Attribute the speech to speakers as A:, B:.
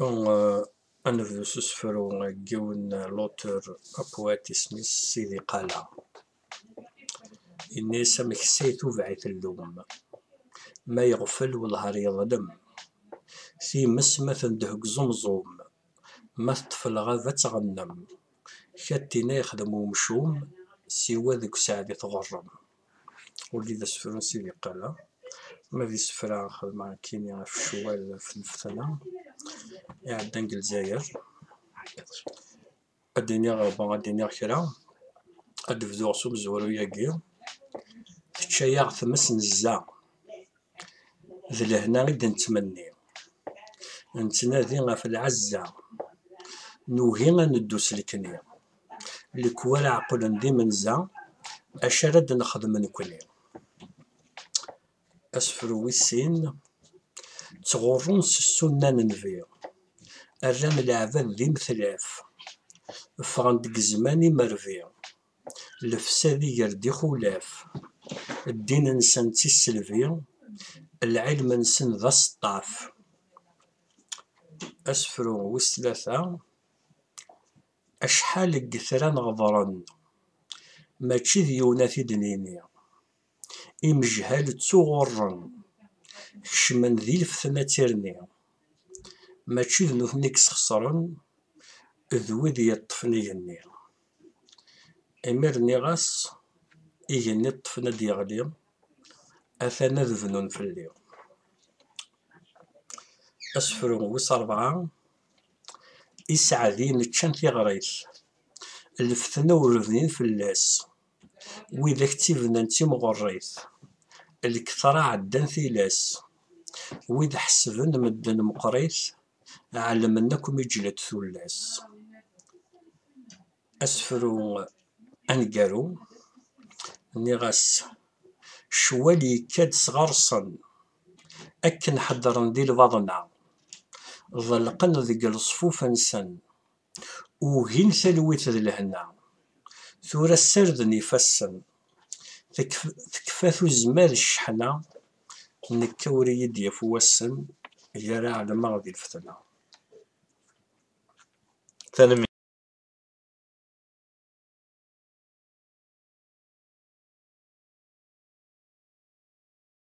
A: Euh, ad nebdu s usefru n yiwen lutur apwat isem-is Sidi Qala. Ini-as amek s ay tubeɛ-it llum, ma yeɣfel welhar yeḍlem. Times ma tendeh deg uẓumẓum, ma teṭṭef lɣaba ad tɣennem. Katina yexdem umcum, siwa deg useɛdi tɣurrem. Udi d asefru n Sidi Qala, ma d isefra xedmeɣ nekkini ɣef ccwal ɣef lfetna iɛeddan deg Lezzayer. Ad d-iniɣ, bon, ad d-iniɣ kra, ad d-bduɣ s umezwaru-yagi, Tečča-yaɣ tmes nezza, d lehna i d-nettmenni, nettnadi ɣef lɛezza, nugi ad neddu s lekni. lekwal ɛeqlen d imenza acu ara d-nexdem nekni. Asefru wis sin, ttɣurrun s ssunna n Nnbi, rran leɛbad d imetlaf, ffɣen-d deg zzman imerbi, lefsad iger-d ixulaf, ddin-nsen d tisselbi, lɛilm-nsen d aseṭṭaf. Asefru wis tlata, Acḥal n yetran ɣedṛen, mačči d yiwen ad t-id-nini. Imejhal ttuɣurren, kecmen di lfetna d tirni. Mačči d nutni i yesxesṛen, d wid yeṭṭfen igenni. Imi rniɣ-as, igenni ṭṭfen ad d-yeɣli, atan ad bnun fell-i. Asefru wis ṛebɛa. i sseɛdin ččan tiɣrit, lfetna ur bnin fell-as, widak ttibnan d timɣerrit, lketṛa ɛeddan tilas, wid ḥesben medden meqqrit, ɛelmen akk mi ǧǧlent tullas. Asefru aneggaru, nniɣ-as, ccwal yekka-d s ɣer-sen. Akken ḥeddren di lbaḍna, ḍelqen deg leṣfuf-nsen, ugin talwit d lehna. Tura ssarden ifassen, tekfa tuzma d cceḥna, nekk ur iyi-d-yaf wassen, gar ɛelmeɣ di lfetna.